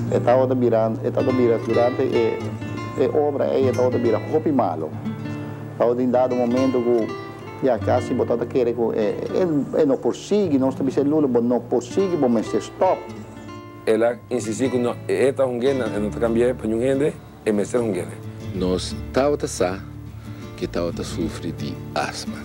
E tabata bira, e tabata bira, durante e, e obra ei e tabata bira hopi malo. Tabata tin dado momento ku ya kasi bo tabata kere ku e, e, e no por sigui, nos ta bisa e lulu, bo no por sigui, bo mester stòp. El a insistí ku no, e ta hungué nan, e no ta kambiaé pa niun hende. E mester hunguenan. Nos tabata sa ke tabata sufri di asma.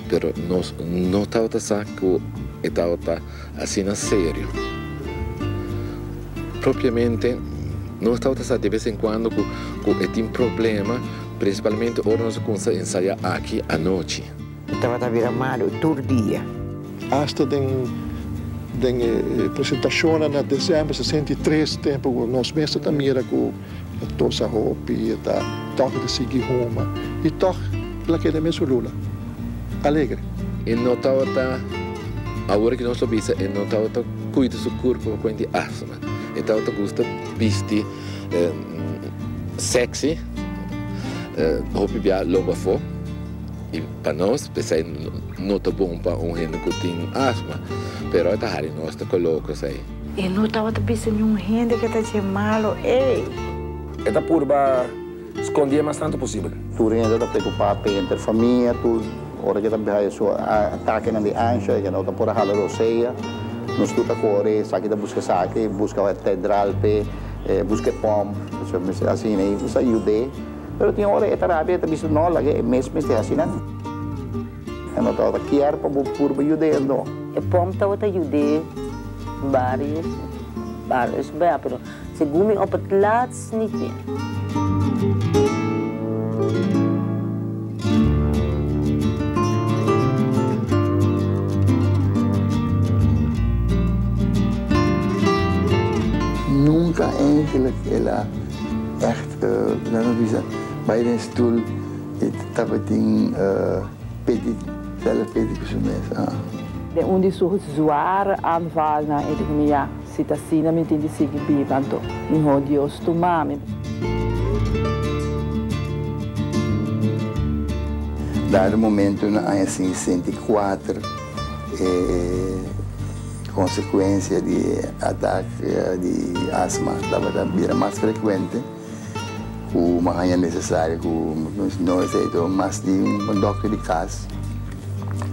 Pero nos no tabata sa ku e tabata asina serio. Propiamente nos tabata sa de bes en kuando ku e tin problema, prinsipalmente ora nos a kumsa ensaya aki anochi. E tabata bira malu tur dia. Asta den den e presentashonnan na December sesenta i tres tempu ku nos mes ta ta mira ku e tosa hopi, e ta tòg di sigui huma i tòg el a keda mes hulula, alegre. E no tabata, awor ki nos lo bisa, e no tabata kuida su kurpu pa kuenta e asma. E tabata gusta bisti sèksi, hopi bia loba afó. I pa nos p'esei no ta bon pa un hende ku tin asma, pero e ta hari nos ta koloka esei. E no tabata bisa niun hende ku e ta dje malu ei. E ta purba skondí e mas tantu posibel. Tur hende ta preokupá te entre famia tur. Ora ku e ta biaha e su atakenan di ansha, e ke no ta por a hala rosea. Nos tur ta kore esaki ta buska esaki, buska e tedral p'e, buska e pòmp. Asina i nos ta yud'é. Pero tin ora e ta rabia, e ta bisa, No, laga e mes mester asina. E no tabata kier pa bo purba yuda e no. E pom tabata yud'é barios barios bea, pero segun mi op et laatst nit meer. Nan a bisa, Bai den stul i tabatin pedi, sèl a pedi ku su mes, ah. Den un di su zware anval nan e di ku mi, Ya, si ta asina mi tin di sigui biba, anto mihó Dios tuma mi. Dado momento na aña sesenta i kuater. E konsekuensia di e atak di asma tabata bira mas frekuente ku mi a haña nesesario ku no esei to mas di un dòkter di kas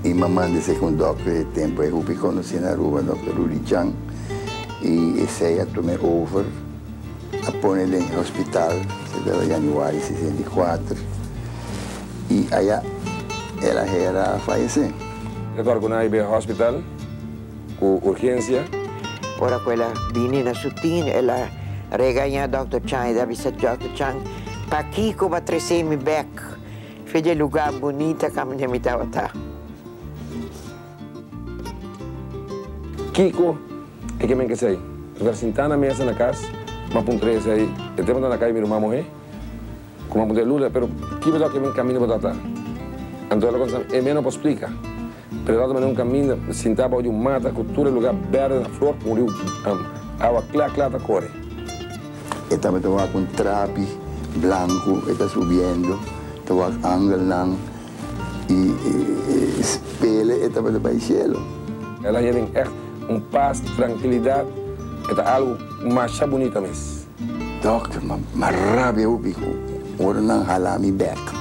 i mi a manda esei ku un dòkter di tempu. E hopi konosí na Aruba, dòkter Rudy Chang, i esei a tuma e over a pone den e hospital, esei tabata yanüari sesenta i kuater, i aya el a hera a fayesé. E tor cu nan a hibe hospital cu urgencia. Ora cu el a bini na su tin, el a regaña Dòkter Chang. El a bisa Dòkter Chang, Pakico bo a trece mi bek fin dje luga bunita caminda mi tabata? Kico e ke men ke sai? Nostra sinta na mesa na cas, ma puntra esei e tempo ta na cai mi ruman mohe? Kuma bo ta e luna, pero ki bo ta oke men kaminda bo ta ta? Anto ela konsa e meno por splika. Pero e ta ta manera un kaminda sintá bou di un mata ku tur e lugá bèrdè ta flor ku un riu awa kla kla ta kore. E tambe ta wak un trapi blanku e ta subiendo, ta wak angelnan i e spele e tambe ta bai shelu. Ela heren ègt un pas, trankilidat, e ta algu masha bunita mes. Dokter, ma rabia hopi ku ora nan hala mi bek.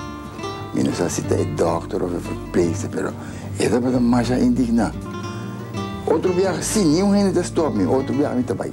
Mi no sa si ta e dokter òf e verpleegster, pero e tabata masha indigná. Otro biaha sí, niun hende ta stòp mi, otro biaha mi ta bai.